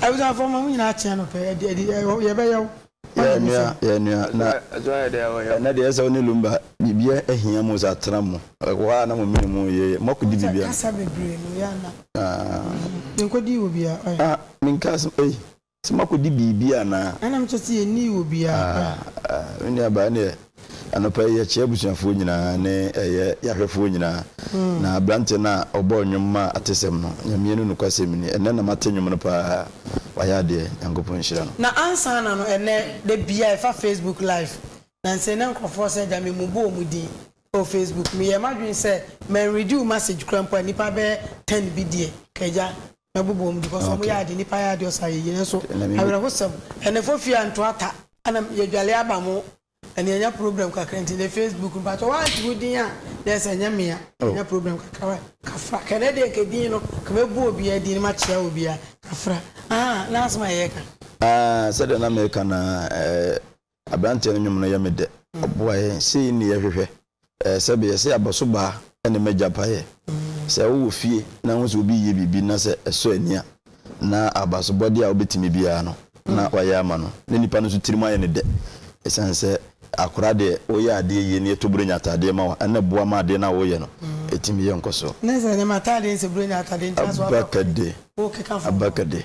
Abusuafo mma mo nyinaa kyeɛ no pɛ ɛdi ɛdi ɛwɔ yɛ bɛ yɛ wo. Yɛ nua yɛ nua na ɛnɛ deɛ ɛsɛ wo ne lumba biribiɛ ɛhia mo sɛ atena mo ɛwɔ hɔ a na mo mene mo yɛ yɛ mo akɔ di biribiɛ no. Kasa bebree no yɛ ana. Yɛ nkɔ di wɔ biaa ɔyɛ. Ah me nka asem ei sɛ mo akɔ di biribi anaa. Ɛna me kyɛ sɛ yɛ nni wɔ biaa ɔyɛ. Ah me nua baa ɛneɛ. Anɔpa yi yɛkyea abusuafoɔ nyinaa ne ɛyɛ yahwɛfoɔ nyinaa na abranteɛ no a ɔbɔɔ nnwom maa atesɛm no Nyame no nokwasɛm ni ɛnnɛ na mate nnwom no paa wayɛ adeɛ Nyankopɔn nhyira no. Na ansa na no ɛnnɛ da biaa ɛfa Facebook live na nsei na nkorɔfoɔ sɛ agya me mu bɔ ɔmu din ɛwɔ Facebook meyɛɛ madwene sɛ man read wo message koraa mpo a nnipa bɛyɛ ten bi deɛ ka agya bobɔ wɔn because wɔn yɛ ade nnipa yɛ ade ɔsa yɛyie nanso awerɛhosɛm ɛnɛ fo fie a nto ata ɛna yɛdwale aba mo ɛna yɛnya problem kakra nti ne facebook mpakyɛ wɔante wo din a na ɛsɛ ɛnyɛ mmea yɛnya problem kakra wa kafra kɛnɛ deɛ nka din no ka mɛbu obiara din no makyea obiara kafra ah na asɛm a yɛka ah sɛdeɛ na meka na eh, Aberanteɛ no nwom no yɛ me dɛ. Ɔboa yɛn, sei ne yɛhwehwɛ. Ɛɛ sɛbeɛ, sɛ abɔsobaa ne m'agyapaeɛ. Sɛ wowɔ fie na wohu sɛ obi reyɛ biribi na sɛ ɛsɔ ani a, na abasobɔdeɛ a wobɛtumi biara no na wayɛ ama no. Na nipa no nso tirim ayɛ no dɛ ɛsiane sɛ akora deɛ woyɛ adeɛ yie na yɛtɔ Buronya ataadeɛ ma wo a, ɛno na ɛboa ma adeɛ no a woreyɛ no tumi yɛ nkɔsoɔ. Nɛsɛ deɛ mataadeɛ nsɛ Buronya ataadeɛ nti na sɛ woakɔ akɔyɛ a, wokeka fam. Abɛkɛde.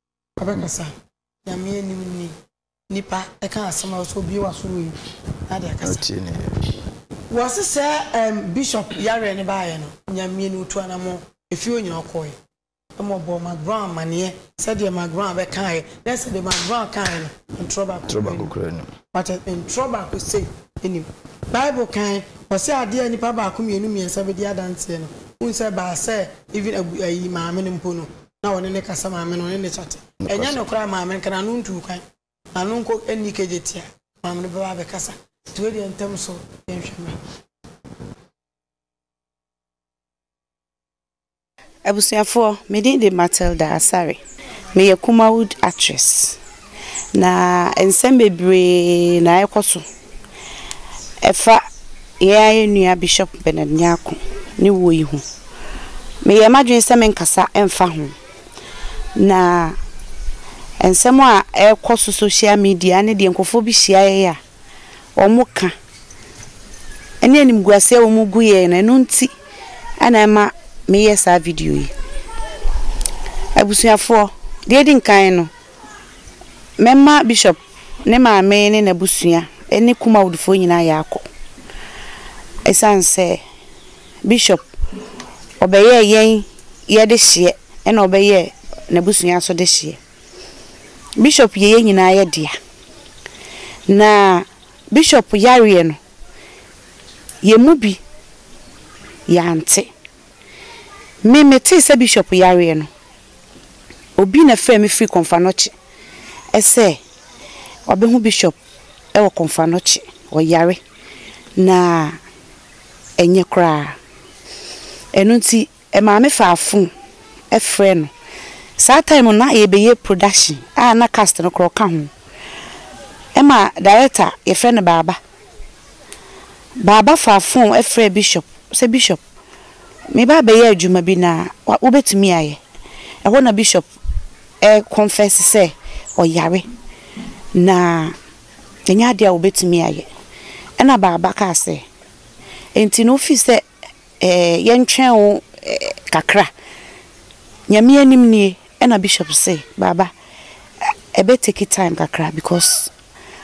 Ɔbɛkasa, Nyame anim ni, Nipa, ɛka asɛm a ɔsɛ obue w'aso wɔ yi na ade akasa. Wɔse sɛ ɛɛm Bishop yareɛ no baeɛ no, Nyame ni, ɔtu anamɔn, efie hɔ nyinaa ɔkɔɔɛ. Ɛma ɔbɔɔ Mark Brown amaneɛ sɛ deɛ Mark Brown bɛkaaɛ, na ɛsɛ deɛ Mark Brown kaaɛ no, ntorɔ baako koraa nnim. Wate aseɛ? Ntorɔ baako sei nnim. Bible kae, ɔse adeɛ a nnipa baako, mmienu, mmiɛnsa bɛdi adanseɛ no, wohu sɛ ɛbaa sɛ even abu ayi maame no mpo no, na wɔne no kasa maame no ɔne no kyate. Ɛnyɛ nokorɛ a maame nka no ano ntu kwan, na ano nkɔ nni kegyeti a, maame no bɛba abɛkasa. Nti wei deɛ ntɛm so yɛnhwɛ mmra. Abusuafoɔ, me din de Matilda Asare. Meyɛ Kumawood actress. Na nsɛm bebree na ɛrekɔ so ɛfa yɛn ara yɛn nua Bishop Bernard Nyarko ne wuo yi ho. Meyɛɛ m'adwene sɛ merenkasa mfa ho. Na nsɛm a ɛrekɔ so social media ne deɛ nkurɔfoɔ bi hyia yɛn a wɔka ne animguaseɛ a wɔgu yɛn no, ɛno nti na ɛma meyɛɛ saa video yi. Abusuafoɔ, deɛ ɛdi nkan no, Mɛma Bishop, ne maame ne n'abusua ne Kumawdfoɔ nyinaa ayɛ akɔ. Ɛsiane sɛ Bishop ɔbɛyɛɛ yɛn yɛ dehyeɛ ɛna ɔbɛyɛɛ n'abusua nso dehyeɛ. Bishop yɛ yɛn nyinaa yɛ dea. Na Bishop yareɛ no, yɛn mu bi yɛante. Me metee sɛ bishop yareɛ no, obi na frɛɛ me firi Komfanoche sɛ wabɛhu bishop wɔ Komfanoche, ɔyare na ɛnyɛ koraa. Ɛno nti maame faa phone frɛɛ no. Saa time no na yɛrebɛyɛ production a na cast no koraa ɔka ho. Ɛma director yɛfrɛ no Baaba Baaba faa fon frɛɛ bishop sɛ, Bishop, mereba abɛyɛ adwuma bi na wobɛtumi ayɛ? Ɛhɔ na bishop rekɔnfɛse sɛ ɔyare, na ɛnyɛ adeɛ a wɔbɛtumi ayɛ. Ɛnna Baaba kaa sɛ, Enti no, wofii sɛ ɛɛ yɛntwɛn wo kakra. Nyame anim nie, ɛna bishop se, Baaba, ɛbɛ take time kakra because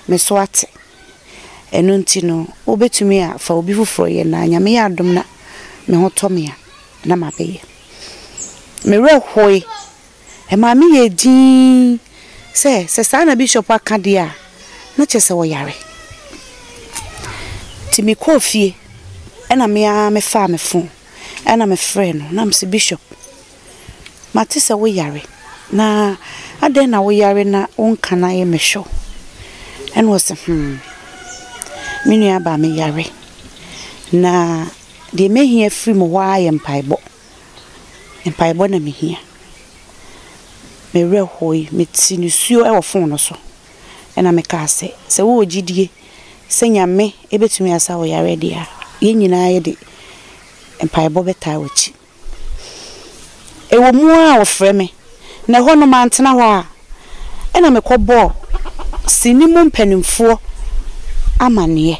me so ate. Ɛno nti no, wobɛtumi a fa obi foforɔ yɛ na Nyame yɛ adom na me ho tɔ me a, na mabɛyɛ. Me werɛ hoe Ɛmaa me yɛɛ dinn sɛ, sɛ saa na bishop aka deɛ a, na kyerɛ sɛ ɔyare. Nti mekɔɔ fie, ɛna me ara mefaa me fon, ɛna mefrɛɛ no, na mese, Bishop, mate sɛ woyare, na adɛn na woyare na wonka na yɛmmɛhwɛ wo? Ɛna ɔse, hmm, me nuabaa meyare, na deɛ mehia firi mo hɔ ara yɛ mpaebɔ. mpaebɔ na mehia. Me werɛ hooe, mete nisuo wɔ fon no so ɛna me kaa sɛ, sɛ wowɔ gyidie sɛ Nyame bɛtumi asa wo yareɛ deɛ a, yɛn nyinaa yɛde mpaebɔ bɛtaa w'akyi. Ɛwɔ mu ara a wɔfrɛ me na ɛhɔ no mantena hɔ a, ɛna mekɔbɔɔ sini mu mpanimfoɔ amaneɛ.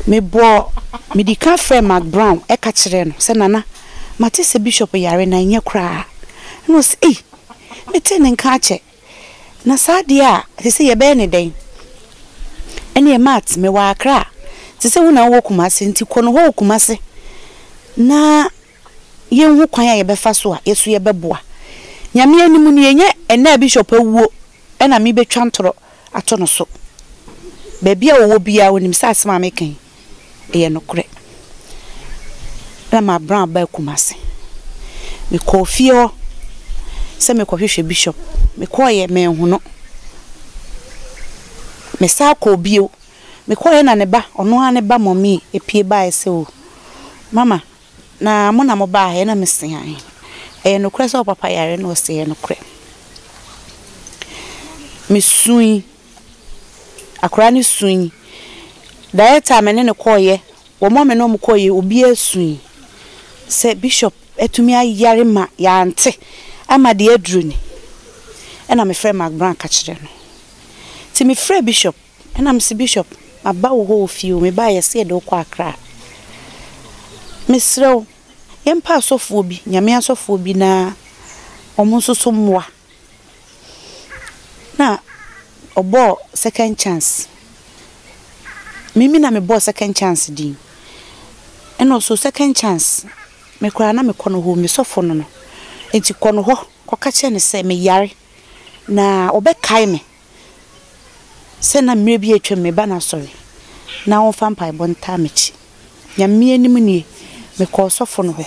Mebɔɔ, medi kan frɛɛ Mark Brown ka kyerɛɛ no sɛ, Nana, mate sɛ Bishop yare na ɛnyɛ koraa. Ɛna ɔse, Ei, metee ne nka akyɛ. Na saa adeɛ a, te sɛ yɛbɛyɛ no dɛn? Ɛneɛ Matt, mewɔ Accra, te sɛ wo na wowɔ Kumasi, nti kɔ nohɔ wɔ Kumasi na. yɛnhu kwan a yɛbɛfa so a yɛso yɛbɛboa. Nyame anim no yɛnya ɛnɛ a Bishop awuo na me bɛtwa ntorɔ ato no so. Baabi a ɔwɔ biara ɔnim sɛ asɛm a meka yi ɛyɛ nokorɛ. Na mabran abaa Kumasi. Mekɔɔ fie hɔ sɛ mekɔhwehwɛ Bishop. Mekɔeɛ manhu no. Mesan kɔɔ bio. Mekɔeɛ na ne ba, ɔno ara ne ba Mommy pue baeɛ sɛ oh Mama Na mo na mo baa he na me se ahe? Ɛyɛ nokorɛ sɛ wo papa yare na ɔse ɛyɛ nokorɛ. Me sui. Akora no sui. Director a me ne no kɔɔyɛ, wɔn a me ne wɔn kɔɔyɛ obiara sui sɛ Bishop atumi ayare ma yɛante ama deɛ aduru ni. Ɛna me frɛ Mark Brown ka kyerɛ no. Nti me frɛ Bishop Ɛna mese Bishop maba wo hɔ wɔ fie o, mebaa yɛse yɛde wo kɔ Accra. Mesrɛ wo yɛmpa asɔfoɔ bi, Nyame asɔfoɔ bi na wɔn nso so mmoa. Na ɔbɔɔ second chance, me me na mebɔɔ second chance din. Ɛna ɔse o second chance me koraa na mekɔ no hɔ o, me sɔfo no no. Enti kɔ no hɔ kɔka kyerɛ no sɛ meyare na ɔbɛkae me. sɛ na mmerɛ bi atwam me ba no asɔre na ɔmfa mpaebɔ ntaa m'akyi. Nyame anim nie, mekɔɔ ɔsɔfo no hɔ.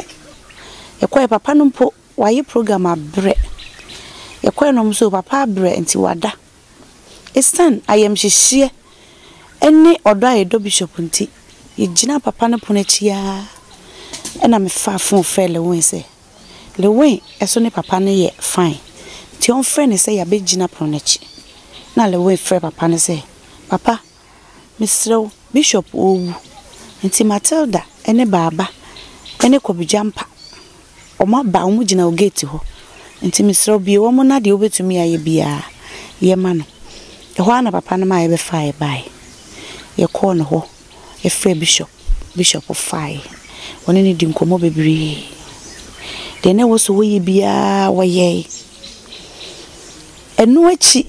Yɛkɔeɛ, papa no mpo wayɛ program abrɛ. Yɛkɔeɛ na ɔmo se o papa abrɛ nti wada. Esiane ayamhyehyeɛ ɛne ɔdɔ a yɛdɔ bishop nti, yɛgyinaa papa no pono akyi aa ɛna mefaa fon frɛɛ Lewin sɛ. Lewin so ne papa no yɛ fine nti ɔmfrɛ no sɛ yɛabɛgyina pono no akyi. Na Lewin frɛ papa no sɛ, Papa, mesrɛ wo, Bishop ɔrewu nti Matilda ne Baaba ne Kwabi Gyampa wɔaba, wɔgyina wo gate hɔ nti mesrɛ wo bue wɔn na deɛ wobɛtumi ayɛ biara yɛ ma no. Ɛhɔ ara na papa no ma yɛbɛfaa yɛbaeɛ. Yɛkɔɔ ne hɔ Yɛfrɛɛ bishop. Bishop faeɛ. Wɔne no dii nkɔmmɔ bebree. Deɛ na ɛwɔ sɛ wɔyɛ biara wɔyɛe. Ɛno akyi,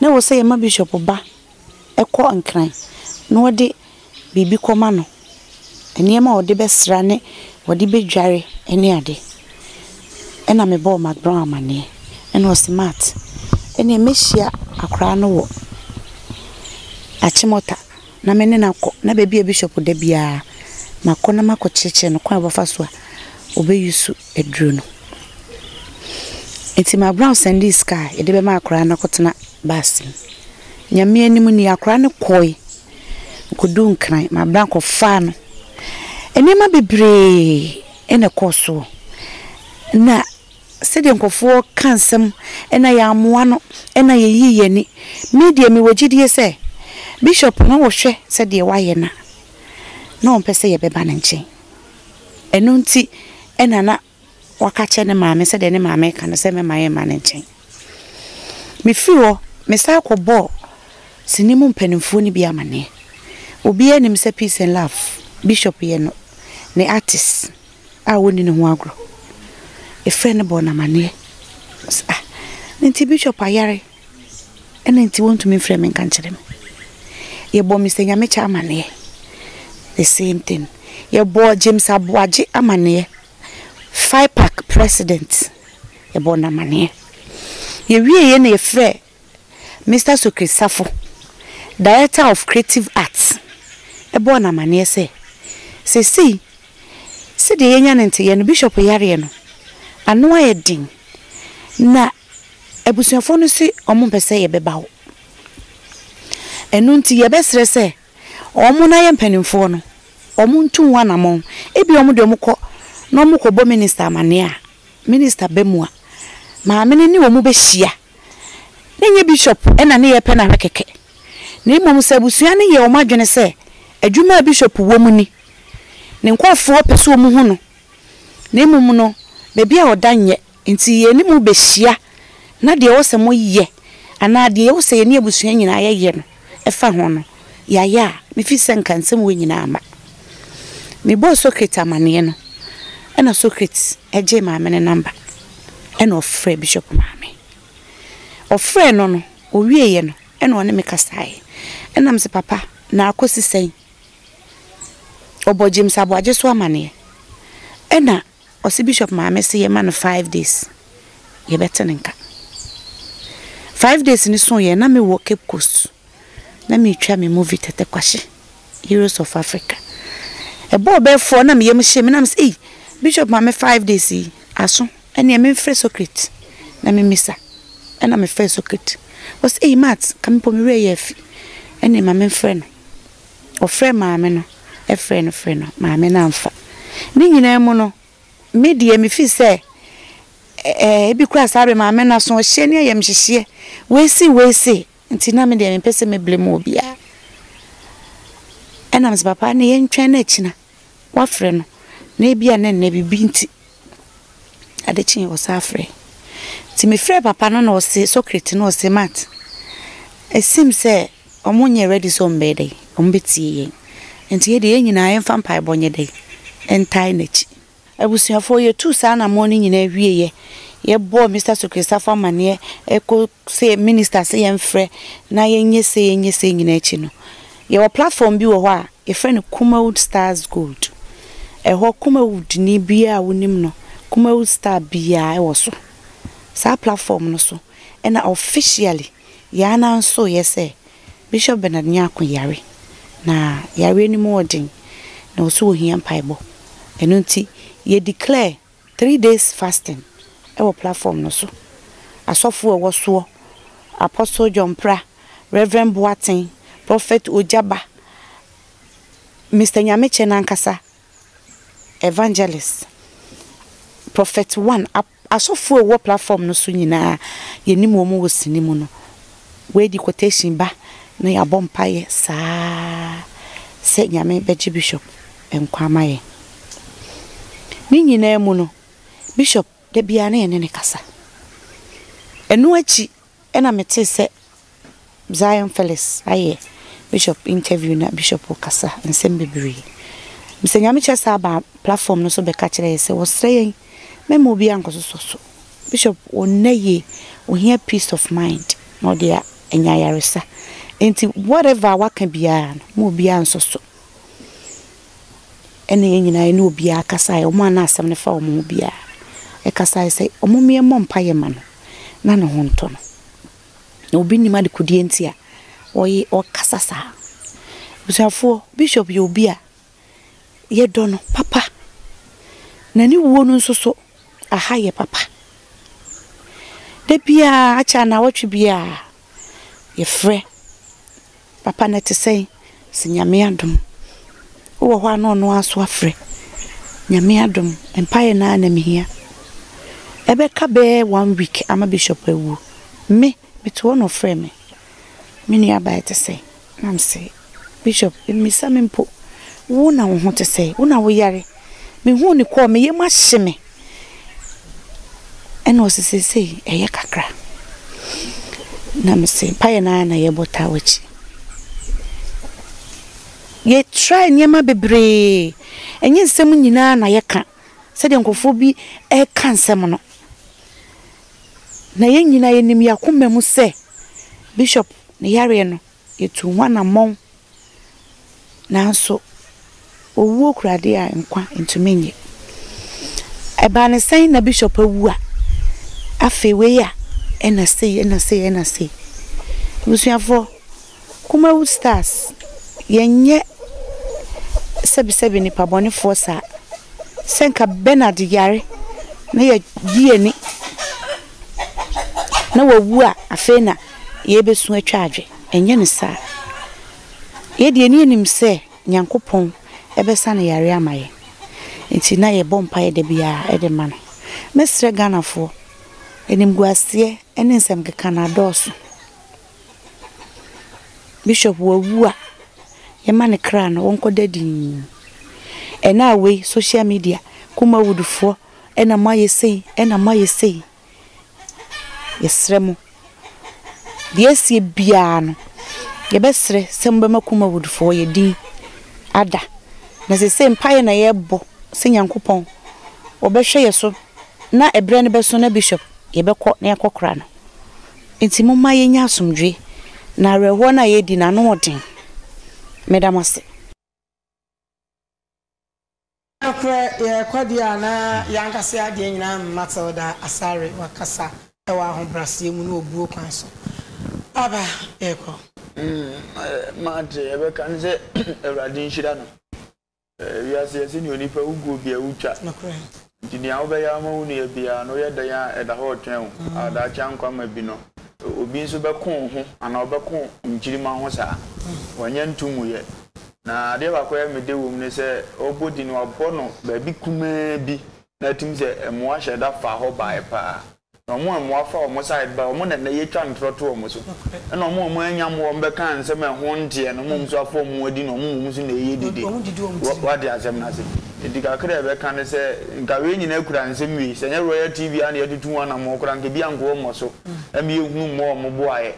na ɛwɔ sɛ yɛma bishop ba kɔ Nkran na wɔde biribi kɔma no, nneɛma a wɔde bɛsra ne wɔde bɛdware ne ade. Ɛna me bɔɔ m'abrɔn amaneɛ ɛna ɔse Matt ɛneɛ mɛhyia akwadaa no wɔ Achimota na me ne no akɔ na baabi a Bishop da biara makɔ na makɔ kyerɛkyerɛ no kwan a ɔbɛfa so a ɔbɛ use aduro no. Nti m'abrɔn sɛndee sika a yɛde bɛma akwadaa no akɔtena bus mu. Nyame anim nie akwadaa no kɔɔe ɔkɔduu Nkran m'abrɔn kɔfaa no nneɛma bebree. Ɛna ɛkɔɔ soɔ na sɛdeɛ nkurɔfoɔ ka nsɛm ɛna yɛammoa no ɛna yɛyii yɛn ani. Me deɛ mewɔ gyidie sɛ Bishop no rehwɛ sɛdeɛ wayɛ na na ɔmpɛ sɛ yɛbɛba ne nkyɛn. Ɛno nti ɛna na waka akyerɛ ne maame sɛdeɛ ne maame reka no sɛ mɛma yɛmma ne nkyɛn. Mefiri hɔ, mesan kɔbɔɔ sini mu mpanimfoɔ no bi amanneɛ. Obiara nim sɛ Peace and Love bishop yɛ no ne artist a wɔnni ne ho agorɔ. Efrɛ no bɔɔ no amanneɛ sɛ, Ah, enti bishop ayare ɛna enti wɔntumi mfrɛ me nka nkyerɛ me. Yɛbɔɔ Mister Nyamekyɛ amanneɛ, the same thing. Yɛbɔɔ James Aboagye amanneɛ. FIPAC president yɛbɔɔ no amaneɛ. Yɛwieeɛ na yɛfrɛɛ Mister Sokri Safo, Director of Creative Arts, bɔɔ no amaneɛ sɛ, seesei sɛdeɛ yɛanya no nteyeɛ no, bishop yareɛ no, ano ayɛ den, na abusuafoɔ no se wɔmpɛ sɛ yɛbɛba hɔ. Ɛno nti yɛbɛsrɛ sɛ Wɔn na yɛ mpanimfoɔ no, wɔn ntu ho anamɔn. Ebia wɔn deɛ wɔn kɔ na wɔn kɔ bɔ minister amaneɛ a, minister ba mu a, maame no ne wɔn bɛ hyia. Ne nyɛ bishop na ne yɛ pɛ na hwɛ kɛkɛ. Na mmom sɛ abusua no yɛ wɔn adwene sɛ adwuma a bishop wɔ mu ni, ne nkorɔfoɔ pɛ sɛ wɔn hu no, na mmom no baabi a ɔda nyɛ Enti yɛne mo behyia, na deɛ ɛwɔ sɛ moyɛ, anaa deɛ ɛwɔ sɛ yɛne abusua nyinaa yɛyɛ no, ɛfa ho no, yɛayɛ a, mefiri sɛ anka nsɛm wei nyinaa mma. Mebɔɔ Socrates amanneɛ no, ɛnna Socrates gyee Maame no nɔmba, ɛnna ɔfrɛɛ Bishop Maame. Ɔfrɛɛ no no, ɔwieeɛ no, ɛnna ɔne me kasaeɛ. Ɛnna mese, Papa, na akɔsi sɛn? Ɔbɔɔ James Aboagye so amanneɛ, ɛnna Ɔse bishop maame se yɛma no five days yɛbɛte ne nka. Five days no so yɛ na me wɔ Cape Coast na me twa me movie Tɛtɛ Kwahye Heroes of Africa. Ɛbɔɔ bɛɛ four na me yam hye me na me se ei bishop maame five days yi aso ɛneɛ me mfrɛ socrit na me misa ɛna me frɛ socrit ɔse ei Matt ka me pɔ me werɛ yɛ afi ɛneɛ ma me mfrɛ no. ɔfrɛɛ maame no, frɛɛ no frɛɛ no, maame no amfa. Ne nyinaa mu no, me deɛ mefii sɛ ɛɛ ebi koraa saa bere maame no asoɔhyeɛ ne ayamhyehyeɛ wei sei wei sei nti na me deɛ mempɛ sɛ me blame obiara. Ɛnam sɛ papa no yɛntwɛn no akyina. Woafrɛ no, na ebia na ɛnnɛ biribi nti, ade kyeeɛ ɔsan frɛɛ. Nti mefrɛɛ papa no na ɔse, Socrate no ɔse, Matt, it seems sɛ wɔn nyɛɛ ready sɛ wɔn bɛyɛ dɛn, wɔn bɛtie yɛn. Nti yɛdeɛ yɛn nyinaa yɛmfa mpaebɔ nyɛ dɛn, ntae n'akyi. Abusuafoɔ, yɛtuu saa anammɔn no nyinaa wieeɛ, yɛbɔɔ Mister Sokresafo amanneɛ ɛkɔ sɛ Minister sɛ yɛmfrɛ na yɛnyɛ sei yɛnyɛ sei nyinaa akyi no, yɛwɔ platform bi wɔ hɔ a yɛfrɛ no Kumawood Stars Gold. Ɛhɔ Kumawoodni biara a wonim no, Kumawood Star biara wɔ so. Saa platform no so na officially yɛn anan sooeɛ sɛ Bishop Bernard Nyarko yare, na yareɛ no mu wɔ den, na ɔse ɔhia mpaebɔ. Ɛno nti yɛ declare three days fasting wɔ platform no so. Asɔfoɔ a ɛwɔ soɔ, Apostle John Mpra, Rev. Boateng, Prophet Ogyaba, Mister Nyamekyɛ no ankasa, Evangelist, Prophet One, Ap. Asɔfoɔ a wɔwɔ platform no so nyinaa yɛnim wɔn wɔ sini mu no wei de quotation ba na yɛabɔ mpaeɛ saa sɛ Nyame bɛgye Bishop nkwa ama yɛn. Ne nyinaa mu no Bishop da biara na yɛne no kasa. Ɛno akyi Ɛna metee sɛ Zion Felix ayɛ Bishop interview na Bishop rekasa nsɛm bebree. Mesɛ Nyame kyɛ saa baa platform no so bɛka kyerɛ yɛ sɛ wɔsrɛ yɛn mɛma obiara nkɔsosɔ so. Bishop ɔnnɛ yie, ɔhia peace of mind na ɔde anya ayaresa. Enti whatever a waka biara no ma obiara nsɔ so. ɛna yɛn nyinaa yɛne obiara kasaeɛ wɔn a na asɛm no fa wɔn ho biara ɛkasaeɛ sɛ wɔn mmea mmɔ mpaeɛ ma no na ne ho ntɔ no na obi nim adekodeɛ nti a ɔye ɔkasa saa abusuafoɔ bishop yɛ obi a yɛdɔ no papa na ne wuo no nso so aha yɛ papa da biara akyɛ anawɔtwe biara yɛfrɛ Papa na ɛte sɛn? Sɛ Nyame adom wowɔ hɔ a na ɔno ara so afrɛ. Nyame adom mpaeɛ no ara na mehia. Ɛbɛka bɛyɛ one week ama Bishop awuo. Me, mete hɔ na ɔfrɛɛ me. Me nua baa ɛte sɛn? Na mese Bishop mmisa me mpo. Wo na wo ho te sɛn? Wo na woyare? Mehuu no kɔɔ me yam ahye me. Ɛna ɔse seesei ɛyɛ kakra. Na mese mpaeɛ no ara na yɛbɔ taa w'akyi. Yɛ try nneɛma bebree. Ɛnyɛ nsɛm nyinaa na yɛka sɛdeɛ nkurɔfoɔ bi ɛka nsɛm no. Na yɛn nyinaa yɛnim yɛn akoma mu sɛ Bishop ne yareɛ no. Yɛtuu ho anammɔn, nanso owuo kura adeɛ a nkwa ntumi nnye. Ɛbaa no sɛn na bishop awu a afei wei a ɛna sei ɛna sei ɛna sei. Abusuafoɔ, Kumawood Stars yɛnyɛ sɛbisɛbi nnipa bɔnefoɔ saa. Sɛ nka Bernard yare na yɛgye yɛn ani. na wawu a afei na yɛrebɛsu atwa adwe. Ɛnyɛ no saa. Yɛ deɛ ani anim sɛ Nyankopɔn bɛsa no yareɛ ama yɛn. Nti na yɛbɔ mpaeɛ da biara de ma no. Mɛsrɛ Ghanafoɔ, animguaseɛ ne nsɛm keka no adɔɔso. Bishop wawu a, yɛma ne kra no ɔnkɔda dinn. Ɛnaa wei social media, Kumawudfoɔ Ɛna moayɛ sei, ɛna moayɛ sei. Yɛsrɛ mo, deɛ ɛseɛ biara no, yɛbɛsrɛ sɛ mobɛma Kumawood foɔ yɛ din ada. Na seesei mpaeɛ na yɛrebɔ sɛ Nyankopɔn ɔbɛhwɛ yɛ so na ɛberɛ no bɛso na Bishop yɛbɛkɔ na yɛakɔ kora no. Nti momma yɛnyɛ asomdwoeɛ na awerɛhoɔ no a yɛredi no ano ɔden. Meda mo ase. Nokorɛ yɛyɛ kwadua anaa yɛankasa yɛ adeɛ nyinaa mm Matilda Asare wakasa wɔ ahobraseɛ mu ne obuo kwan so Papa yɛkɔ. Mm mate yɛbɛka ne sɛ Awurade nhyira no Wiase yɛse neɛ onipa wu guo biaa wutwa Nokorɛ. Nti nea wobɛyɛ ama wo nua biara no, woyɛ dɛn a ɛda hɔ retwɛn wo a daakye ankɔ amma bi no, obi nso bɛko wo ho anaa ɔbɛko nkyirimma ho saa. Wɔnyɛ nto mu yɛ. Na adeɛ baako a mede wom ne sɛ, ɔrebɔ din no, wabɔ no baabi kumaa bi na atim sɛ mmoa hyɛ da faa hɔ baeɛ pa ara. Na wɔn a wɔafa wɔn side ba, wɔn na nnɛ yɛtwa ntorɔ to wɔn so. Ɛna wɔn a wɔannya mmoa a wɔbɛka nsɛm a ɛho nteɛ no, wɔn nso afa wɔn ho adi na wɔn mmom nso na ɛreyɛ dede. Woate asɛm no ase? Enti kakra a yɛbɛka ne sɛ, anka wei nyinaa kura nsɛm wei. Sɛ ɛnyɛ Royal TV ara na yɛatutu ho anammɔn koraa, anka ebi ankɔ wɔn so, ɛmma yɛnhunu mmɔ wɔn boaeɛ.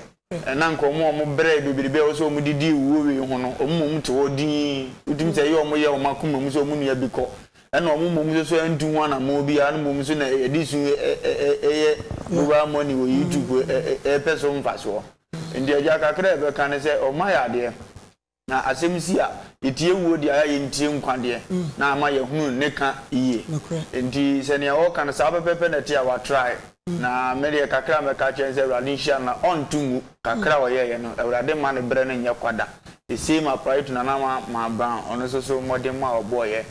Ɛnna anka wɔn a wɔbrɛɛ bebrebe a ɛwɔ sɛ wɔde di awuo wei ho no, wɔn mmom te hɔ dinn. Wotumi sɛ ɛyɛ wɔn yɛ wɔn akoma mu sɛ wɔn nua bi kɔ. Ɛnna wɔn mmom nso so antu ho anammɔn biara, na mmom nso na ɛde su yɛ mobile money wɔ YouTube repɛ so mfasoɔ. Enti agya kakra a ɛbɛka ne sɛ wɔayɛ adeɛ. Na asɛm si a, yɛtie wuo deɛ a yɛntie nkwa deɛ, na ama yɛahunu ne ka yie. Enti sɛ nea ɔreka no saa pɛpɛɛpɛ na ɛte a, watrae. Na me deɛ kakra a mɛka akyerɛ no sɛ Awurade nhyira no na ɔnto ngu. Kakra a ɔyɛeɛ no, Awurade mma ne berɛ no nyɛ kwa da. The same applies to Nana Mahama Brown, ɔno nso so mmɔdemma a ɔbɔeɛ,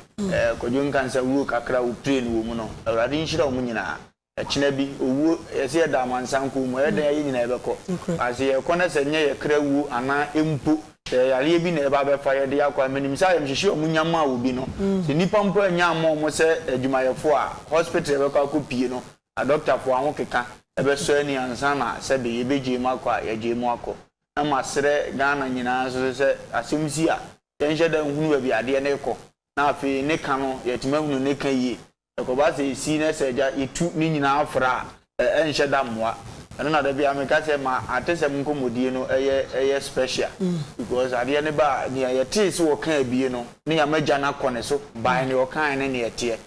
Kwadwo Nkansah wuo kakra a ɔpiree no wɔ mu no, Awurade nhyira wɔn nyinaa. Ɛkyena bi, owuo, yɛse yɛda amansan kuo mu, ɛyɛ dɛn a yɛn nyinaa yɛbɛkɔ? Nanso sɛ yɛkɔ na sɛ nyɛ yɛn kra wuo anaa mpo sɛ yareɛ bi na ɛba bɛfa yɛn de akɔ a, menim sɛ ayamhyehye a wɔnya maa obi no, sɛ nnipa mpo annya amma wɔn sɛ adwumayɛfoɔ a, hospital a yɛbɛkɔ akɔ pie no, adɔktafoɔ ahokeka bɛsɔ ani ansa na sɛbe yɛbɛgyae mu akɔ a, yɛagyae mu akɔ. Na masrɛ Ghana nyinaa nso so sɛ asɛm si a, yɛnhyɛ da nhunu baabi a adeɛ no rekɔ na afei ne ka no, yɛatumi ahunu ne ka yie Ɛkɔba sɛ esi na sɛ agya etu ne nyinaa fra a, ɛnhyɛ da mmoa. Ɛno na da biara meka sɛ ma atesɛm nkɔmmɔdie no yɛ yɛ special because adeɛ no ba a, deɛ yɛtee sɛ ɔka abie no ne yɛama agya no akɔ ne so by deɛ ɔkaeɛ ne deɛ ɛteɛ.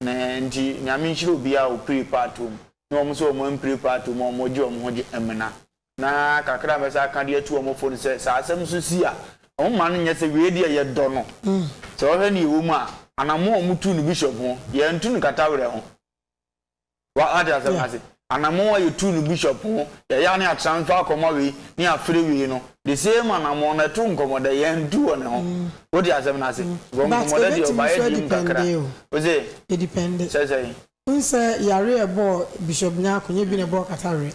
Na nti Nyame nhyira obiara a ɔpire part wɔ mu ne wɔn nso a wɔampire part wɔ mu a wɔgye wɔn ho gye mmena. Na kakra a mɛsan aka de atu wɔn fo ne sɛ, sɛ asɛm nso si a, mma no nyɛ sɛ wei deɛ yɛdɔ no. Sɛ wohwɛ nea ɛwɔ mu a, anammɔn a wɔtuu no bishop ho, yɛantu no katawerɛ ho. Woate asɛm no ase? Anammɔn a yɛtuu no bishop ho, yɛyɛ a na yɛatransfer akɔma wei, na yɛafrɛ wei no, the same anammɔn no, ɛto nkɔmmɔ dɛn? Yɛantu wɔ ne ho. Wote asɛm no ase? Because nkɔmmɔdɛ deɛ, ɔbaeɛ deɛ mu kakra. Wo se? Sɛ sɛn? Wohu sɛ yareɛ a ɛbɔɔ Bishop Nyarko, nyɛ bi na ɛbɔɔ katawerɛ.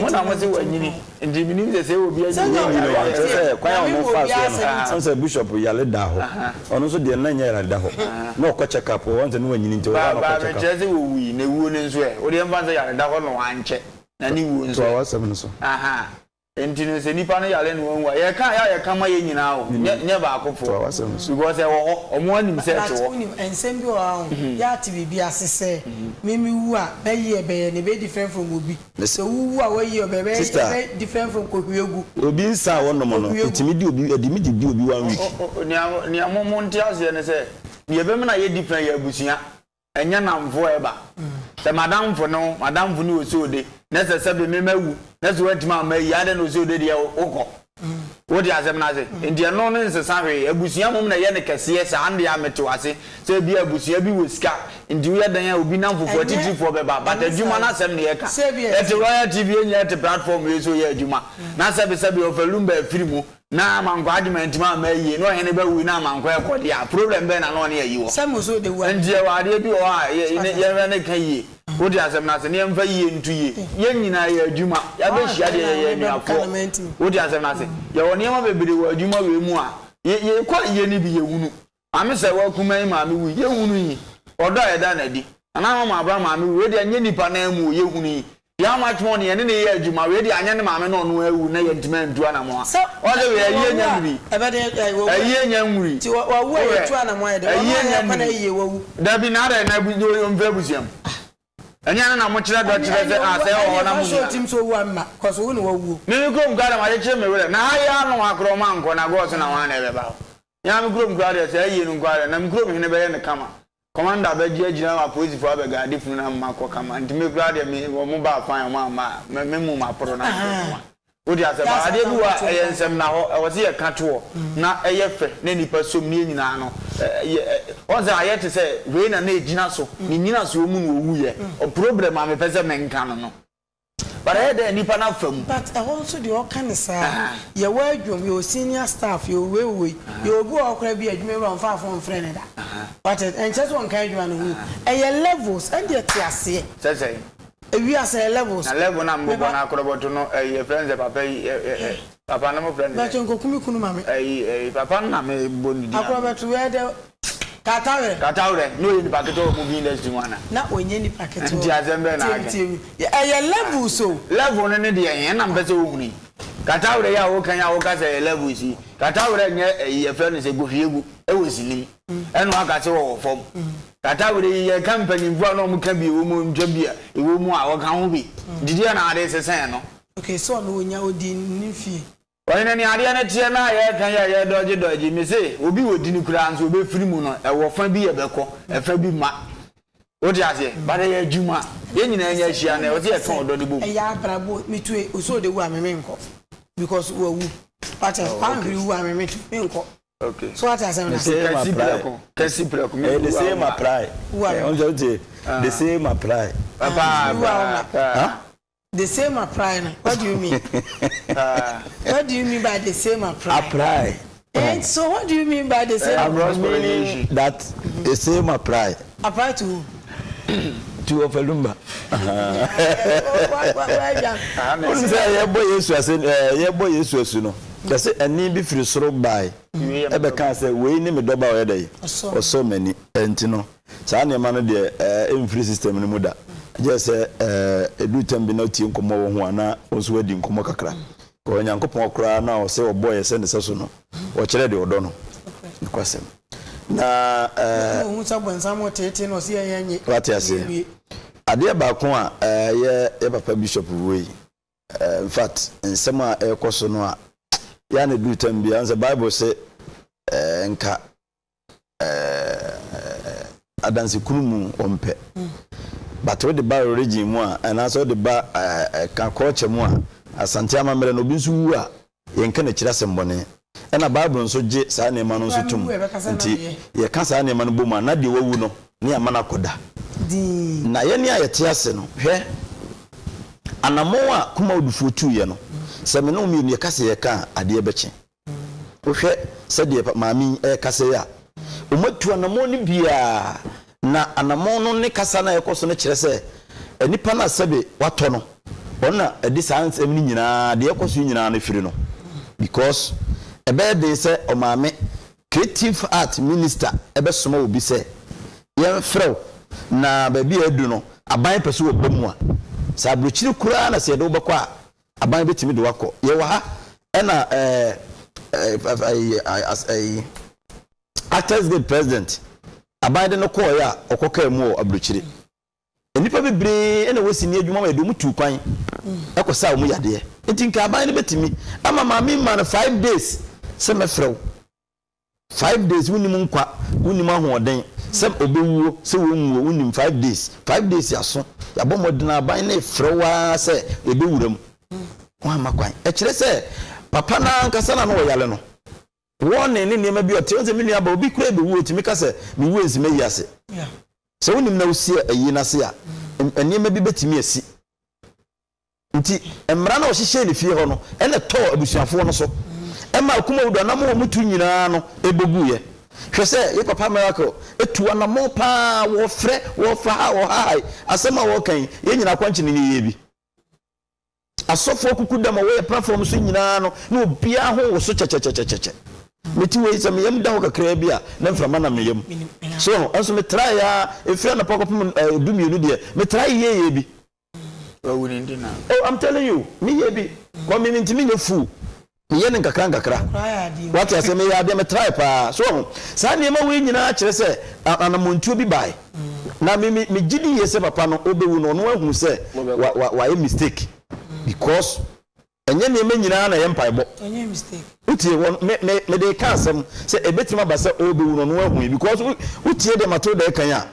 Mo na mo se wanyini nti menim sɛ sɛ obi anyini wanyini no a kyerɛ sɛ kwan a ɔno faa soɔ no ɔn sɛ bishop yale da hɔ ɔno nso deɛ na nyɛ yare da hɔ na ɔkɔ check up ɔn sɛ ne wanyini nti ɔkɔ check up. Ba mekyerɛ sɛ wɔwui na wuo no nso ɛ wodeɛ mfa nsɛ yare da hɔ na wankyɛ na ne wuo nso ɛ toa w'asɛm no so. Nti no sɛ nipa no yare na wanwu a yɛka yɛ a yɛka ma yɛn nyinaa o nyɛ nyɛ baako po because ɛwɔ hɔ ɔmo anim sɛ ɛte hɔ. But wonim nsɛm bi wɔ hɔ a ho yɛ a te biribi ase sɛ me me wu a mɛ yie ɛbɛyɛ ne ɛbɛyɛ different from obi na sɛ wo wu a wa yie ɔbɛ ɛbɛyɛ ɛbɛyɛ different from kohwie gu. Obi nsa a wɔ nom no ɛtumi di obi ɛdimi de di obi one week. Nea nea mo mo nte aseɛ ne sɛ deɛ ɛbɛma no ayɛ different yɛ abusua Ɛnyɛ nnamfo a ɛba. Sɛ m'adamfo ne wo, m'adamfo ne Oseode, na ɛsɛ sɛ beme mawu, na sɛ woantumi amma ayi a, adɛn na Oseode deɛ wokɔ? Wote asɛm no ase? Enti ɛno no nsesa hwee. Abusua mmom na ɛyɛ no kɛseɛ saa. Ɛno deɛ a, mete wo ase sɛ ebia abusua bi wɔ sika nti woyɛ dɛn a obi nnamfofoɔ atitirifoɔ bɛba, but adwuma no asɛm na yɛka. Yɛte Royal TV, yɛn nyinaa te platform wei so reyɛ adwuma, na sɛbesɛbe ɔfa Lumba afiri mu, Na mankɔ agye mantumi amma ayie na ɔhene ba wui na amankɔ ɛkɔ deɛ a problem bɛn na na ɔne ayi wɔ hɔ? Ɛnti yɛwɔ adeɛ bi wɔ hɔ a yɛ yɛnhwɛ ne ka yie wote asɛm no ase na yɛmfa yie nto yie yɛn nyinaa yɛ adwuma yɛabɛhyia deɛ yɛyɛ anuafoɔ wote asɛm no ase yɛwɔ nneɛma bebree wɔ adwuma wei mu a yɛ yɛkɔ a yɛyɛ no bi yɛhunu Maame sɛwa kumaa yi maame wui, yɛ hunu yi, ɔdɔ a yɛda no adi, Nana Ama Maabra maame wui, wei deɛ nyɛ nipa nan mu o, yɛ hunu yi, Deɛ how much money yɛne no yɛ adwuma, wei deɛ anyɛ ne maame na ɔno awu na yɛ ntumi antu anamɔn a, ɔn sɛ wei ayie nya nwuri, ayie nya nwuri, wohwɛ, ayie nya nwuri, dabi na adɛn na ɔmfiri abusua mu, ɛnyɛ ɛno na mo kyerɛ dɔ kyerɛ sɛ ah sɛ ɔwɔ hɔ na mo nua no, meme kurom koraa deɛ magye kye me werɛ, na ha yi ara no wakorɔ ɔma nkɔ na gɔɔ so na hwan na ɛbɛba hɔ, Yɛn ara me kurom koraa deɛ, sɛ ayie no nko ara deɛ, na me kurom hene bɛyɛ no kama. Kɔmanda abɛgye agyina ma apolisifoɔ abɛga ade funu no ama makɔ kama. Nti me koraa deɛ, me, wɔn baa kwan a, wɔn amma a, me, me mum aporo na mekɔ kama. Wote aseɛ? But adeɛ bi wɔ hɔ a, ɛyɛ nsɛmnahɔ. Ɛwɔ sɛ yɛka toɔ, na ɛyɛ fɛ, na nnipa som, na yɛn nyinaa no, ɛ, yɛ, ɛ, woahu sɛ ayɛ te sɛ wei na na ɛgyina so, ne nnyinasoɔ mu na ɔwuiɛ. Ɔ, problem a mepɛ sɛ menka no no. But ɛyɛ dɛn nnipa no afa mu? But ɛhɔ nso deɛ ɔka ne saa. Yɛwɔ adwom, yɛwɔ senior staff, yɛwɔ wei wɔ wei. Yɛwɔ obi wɔ hɔ koraa bi a adwumawura ɔmfaa phone mfrɛɛ no da. Wate ase? Ɛnkyerɛ sɛ ɔnka adwuma no ho. Ɛyɛ levels. Ɛndeɛ te aseɛ. Sɛ sɛn? Ewiase ɛyɛ levels. Na level no a mobɔ no akorɔbɔto no, ɛyi, yɛfrɛ no sɛ papa yi, ɛ, ɛ, ɛ, papa no mofrɛ no sɛn? Mpakyɛ nkɔku me kunu ma me. Ɛyi, ɛyi, papa no na mebɔ ne din ano. Akorɔbɛto, where the. Katawrɛ. Katawrɛ, na ɔyɛ nipa ketewa wɔ movie industry mu ana? Na ɔnyɛ nipa ketewa o. Nti asɛm bɛn na aka yi? Tie me, tie me. Ɛyɛ levels o. Level no ne deɛ he? Ɛna mpɛ sɛ wohunu yi. Katawrɛ yi a woka yi a woka sɛ ɛyɛ levels yi, Katawrɛ nyɛ ɛyi yɛfrɛ no sɛ gohwiegu wɔ sini mu. Ɛna woaka sɛ ɔwɔ fam. Katawrɛ yi, yɛka mpanyimfoɔ a na wɔka bi wɔ mu, ntwa bi a ɛwɔ mu a, ɔka ho bi. Nti deɛ na wode sesɛɛ no? Okay, sɛ ɔno ɔnya, ɔdi ne fie. Ɔyɛ no nea adeɛ no teɛ na yɛ ka yɛ yɛ dɔgye dɔgye me se obi wɔ dini koraa nso ɔbɛfiri mu no ɛwɔ fa bi ɛbɛkɔ ɛfa bi ma wo te aseɛ but ɛyɛ adwuma yɛn nyinaa nya hyia na ɛwɔ sɛ yɛ ka ɔdɔ no bɔ mu. Ɛyɛ abrabɔ me tue ɔsɛ ɔde wu a me menkɔ because wawu wate aseɛ wanhwere wu a me me tue menkɔ so wate asɛm no ase. Kasi prɛko kasi prɛko me wu a wo ma wu a me ma. The same apply. Paa paa paa. The same aprae no what do you mean what do you mean by the same aprae aprae eh so what do you mean by the same I'm not meaning that the same aprae aprae to who to Ofalumba. Wọ́n sẹ́ yẹ bọ́ Yesu ase yẹ bọ́ Yesu asu no yẹsẹ ẹni bi firi soro baae ẹbẹ kan sẹ wei ne mi dọba ọyẹ dẹ yi ọsọ mẹni ẹnti no Saa nneɛma no deɛ ɛɛ ɛmfiri system no mu da. Gyɛ sɛ ɛɛ ɛduru tɛm bi na wotie nkɔmmɔ wɔ ho a na wo nso woadi nkɔmmɔ kakra. Kɔ Onyankopɔn koraa no a ɔse ɔbɔɔ yɛ sɛ ne sɛso no, ɔkyerɛ deɛ ɔdɔ no. Nokwasɛm. Na ɛɛ. Yɛtumi hu sɛ ɔbonsam reteetee na ɔse yɛnyɛ nye. Wate aseɛ? Yɛnwie. Adeɛ baako a ɛɛ yɛ yɛ papa bishop wue yi, ɛɛ infact nsɛm a ɛrekɔ so no a, yɛ a na ɛduru tɛm bi a, wohu sɛ Bible se ɛɛ nka eh, adanse kunu mu ɔmpɛ but wode ba origin mu a anaasɛ wode ba eh, ka culture mu a asante amammerɛ no obi nso wu a yɛnka n'akyiri asɛmbɔne ɛna bible nso gye saa nneɛma no nso tom nti yɛka saa nneɛma no bɔ mu a na deɛ wawu no ne ama no akɔda na yɛne a yɛte ase no hwɛ anammɔn a kuma odufoɔ tuiɛ no sɛ me ne wo mmienu yɛka sɛ yɛka a adeɛ bɛkye Wohwɛ sɛdeɛ maame yi rekasa yi a, wɔatu anammɔn no biara, na anammɔn no ne kasa no a ɛrekɔ so no kyerɛ sɛ nipa no a sɛbe watɔ no, ɔno na ɛde saa nsɛm no nyinaa, deɛ ɛrekɔ so yi nyinaa no firi no. Because ɛbɛyɛ den sɛ ɔmaame, Creative Art Minister bɛsoma obi sɛ yɛmfrɛ wo, na baabi a adu no, aban pɛ sɛ wɔba mu a, sɛ aburokyire koraa na sɛ yɛde wo bɛkɔ a, Aban bɛtumi de wo akɔ. Yɛwɔ ha ɛna ɛɛ ɛyi as ɛyi Actors Guild president aban de no kɔɔeɛ a ɔkɔ kaa mu wɔ aburokyire. Nnipa bebree ɛna wɔ sini adwuma ma yɛde wɔn tuu kwan ɛkɔ saa wɔn yadeɛ. Nti nka aban no bɛtumi ama maame mmaa no five days sɛ mɛfrɛ wo. Five days wonim nkwa wonim ahoɔden sɛ ɔbɛwuo sɛ wɔnwuo wonim five days five days yaso yabɔ mmɔden aban no ɛfrɛ wo ara sɛ ɛbɛwura mu woamma kwan ɛkyerɛ sɛ papa no ankasa na na ɔyare no warning ne nneɛma bi ɔte ɔnsɛ me nua ba obi kura ɛbɛwuo ɔtumi ka sɛ mewuo nsi mayi ase sɛ wonim na wosi ayi no ase a nneɛma bi bɛtumi asi Nti mmara no a ɔhyehyɛɛ ne fie hɔ no na ɛtɔɔ abusuafoɔ no so ma akumawu do anamɔ wɔn tu nyinaa no bɔ guiɛ. Hwɛ sɛ yɛ papa Miracle tu anamɔ paa wɔfrɛ, wɔfa ha, wɔhahae, asɛm a wɔka yi yɛ nyina akwankye ne nyeyɛɛ bi. Asɔfoɔ kuku dam a wɔyɛ platform so nyinaa no na obiara ho woso kyɛkyɛkyɛkyɛkyɛ. Me te wei sɛ me yam da hɔ kakraa bi a na mframa nam me yam. So ho? Nso me traeɛ ara ɛfiri anɔpa kɔpem du mmienu deɛ me traeɛ yɛyɛ bi. Wawu ne de na. Oh I'm telling you me yɛ bi but me me ntumi nyɛ full me yɛ no nkakra nkakra wate aseɛ me yɛ adeɛ me try paa so ɔho saa nneɛma wei nyinaa kyerɛ sɛ anamontuo bi bae na me me me gyidi yɛ sɛ papa no ɔbɛwu no ɔno ahunu sɛ wa wa wayɛ mistake because. Ɛnyɛ nneɛma nyinaa na ɛyɛ mpaebɔ. Wotie wɔn me me mede reka asɛm sɛ ɛbɛtumi aba sɛ ɔrebɛwu no ɔno ahui because wo wotie deɛ Matilda ɛkan a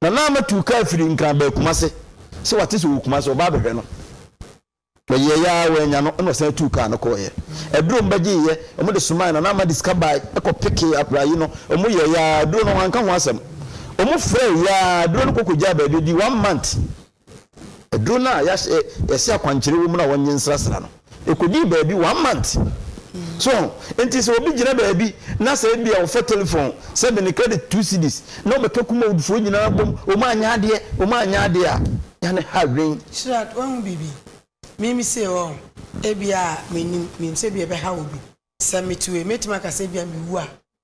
Nana Amatiu kaa firi Nkran baa Kumase sɛ wate sɛ ɔwɔ Kumase ɔba abɛhwɛ no wɔyɛɛ yɛ ara wɔannya no ɛna ɔsan tuu kaa no kɔɔeɛ aduro ɔmo bɛgyeeɛ ɔmo de somaeɛ Nana Ama de sika bae ɛkɔ pekee aprayi no ɔmo yɛɛ yɛ ara aduro no wɔanka ho asɛm ɔmo frɛɛ yɛ ara aduro no kɔkɔgyaa baabi ɛdii one month. Aduro no a yɛahyɛ yɛse akwankyerɛ wɔ mu no a wɔnye nsrasra no, ɛkɔdii baabi one month. So ho? Enti sɛ obi gyina baabi na sɛ ebia ɔfɛ telefon sɛ me ne credit two cedis na ɔbɛka Kumawoodfoɔ nyinaa bom wɔn anyɛ adeɛ, wɔn anyɛ adeɛ a, yɛ a ne ha dwen. Shyirah, woahu biribi? Me me sei hɔ ho, ebia mennim, menim sɛ ebia ɛbɛhaw obi. Sɛ mete wei, mɛtumi aka sɛ ebia mewu a,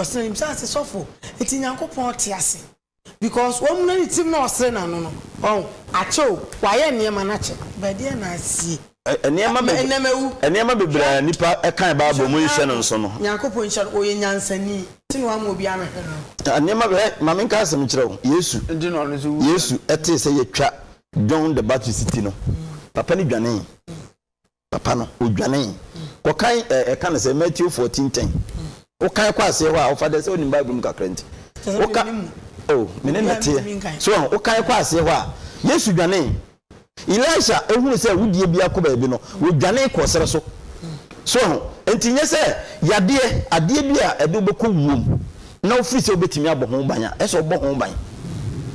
Ɔsere ne bisa se sɔfo nti Nyankopɔn te ase because wamuna ne tirim na ɔsere n'ano no ɔho akyɛ o wayɛ nneɛma no akyɛ but ɛdeɛn na asie Nneɛma ma ɛnɛ mawu beb nneɛma bebree a hwɛ nnipa kae Bible nhyɛ mu nhyɛ no nkae nso no. o Nyankopɔn nhyira no ɔyɛ nyansani nti na wama obi amehwɛ no no. Ah nneɛma be hɛ ma menka asem nkyerɛ wo Yesu Nti na ɔno nso wuiɛ Yesu no. tee sɛ yɛatwa John the Baptist ti no papa no dwanee. papa no, ɔdwanee kɔkan ɛ, ɛka no sɛ Matthew fourteen ten, wokan kɔ aseɛ hɔ a, wofa dɛ sɛ wonim Bible mu kakra nti, woka, o, me ne no teɛ, so wahu, wokan kɔ aseɛ hɔ a, Yesu dwanee. Elisha hunu sɛ awudie bi akɔ baabi no, ɔdwanee kɔɔ serɛ so, so wahu, nti nyɛ sɛ yadeɛ, adeɛ bi a ɛde wobɛkɔ wuom, na ɔfiri sɛ ɔbɛtumi abɔ ho ban a, ɛsɛ ɔbɔ ho ban.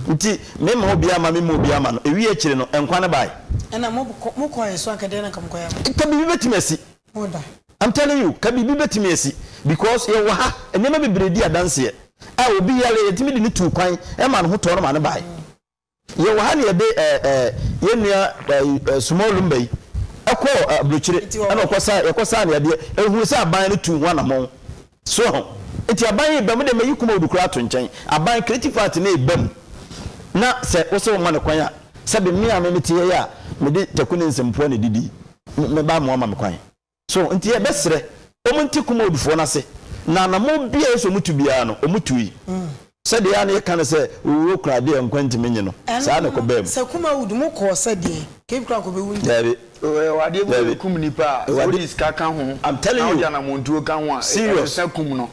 Nti memma obiara mma, memma obiara mma no. Ɛwiee akyire no, nkwa no baeɛ. Ɛna mo kɔ, mo kɔeɛ so anka deɛ na nka mo kɔyɛ ama. Ka biribi bɛtumi asi. Mo da. I'm telling you, ka biribi bɛtumi asi. Because yɛwɔ ha, nneɛma bebree di adanseɛ a obi yare a yɛtumi de no tuu kwan, ɛmaa ne ho tɔɔ no maa no baeɛ. Yɛwɔ ha na yɛde yɛn nua Sumor Lumba yi kɔɔ aburokyire na ɔkɔsaa, yɛkɔsaa no adeɛ, ɛhunu sɛ aban no tuu ho anamɔn. So aho? Nti aban yi reba mu deɛ mayi Kumawudu koraa ato nkyɛn. Aban, creative party no reba mu na sɛ wo sɛ woma no kwan a, sɛbe me a me mete ha yi a mede Taku ne Nsɛmfua na ɛdidi yi, mɛba amoa ma me kwan. So nti yɛbɛsrɛ wɔn nte Kumawdfoɔ no ase, na anammɔn biara a ɛsɛ sɛ wɔtu biara no, wɔtui. Sɛdeɛ a na yɛka no sɛ, Owuo kura adeɛ a nkwa ntumi nnye no, saa na ɛkɔbaa mu. Sɛ Kumawd, mo kɔɔ sɛ deɛn? Kei koraa nkɔbɛwu nti. Daabi. Ɔyɛ adeɛ bi a ɛkum nipa a, sɛ wode sika ka ho, na wode anammɔntuo ka ho a, ɛsesa kum no.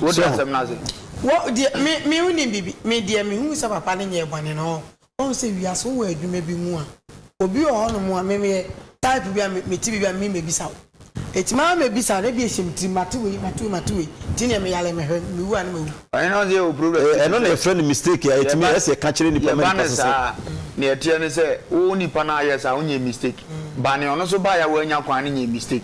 Wote asɛm no ase? Wɔ, deɛ, me, me nnim biribi. Me deɛ, mehunu sɛ papa no nyɛɛ bɔne no, ɔɔ. Wohu sɛ wiase wowɔ adwuma bi mu a obi wɔ hɔ nom a me meyɛ type bi a me te biribi a me mɛbisa wo ɛti maa me bisa na ebi ɛhyɛ me tirim mate wei mate wei mate wei nti neɛ me yare mehwɛ me wu a ne mawu. Ɔhene ɔse yɛwɔ problem bi. Ɛno na yɛfrɛ no mistake a ɛtumi yɛ sɛ yɛka kyerɛ nipa ma nipa sesa. Yɛba no saa a, nea ɛteɛ ne sɛ wo nipa no a yɛɛ saa wonyɛɛ mistake, ba nea ɔno nso baeɛ a w'annya kwan no nyɛɛ mistake.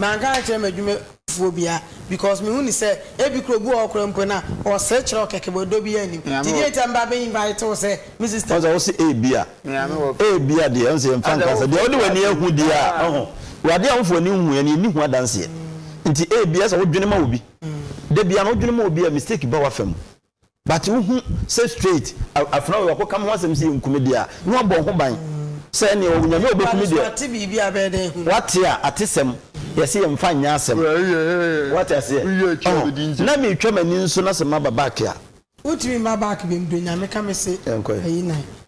Manka ankyerɛ m'adwumafoɔ biaa because mehu no sɛ ebi koraa obi wɔ hɔ koraa mpo na ɔsere kyerɛ wo kɛkɛ but ɔdɔ biaa nnim nti deɛ nti a meba abɛ invite wo sɛ me sister. Ɔhu sɛ wose ebia, ebia deɛ, ɔhu sɛ yɛmfa nka asɛm, deɛ wode w'ani ahu deɛ a, ɔho, wɔ adeɛ a wofo ani nhu ɛ no yɛnni ho adanseɛ nti ebia ɛsɛ sɛ wodwene ma obi, da biaa no wodwene ma obi a mistake ba w'afa mu. But wo hu sɛ straight afena wei wakɔ ka me ho asɛm sɛ yɛ nku me deɛ a na wabɔ wo ho ban sɛ ɛneɛ ɔwɔ nyame a ɔbɛ ku me deɛ wate a atesɛm yɛ se yɛ nfa nyɛ asɛm wate aseɛ ɔhɔ na me twa m'ani nso na sɛ ma ba back a. Wo ntumi mma back biom do nyame ka me se yɛ nkɔ yɛ.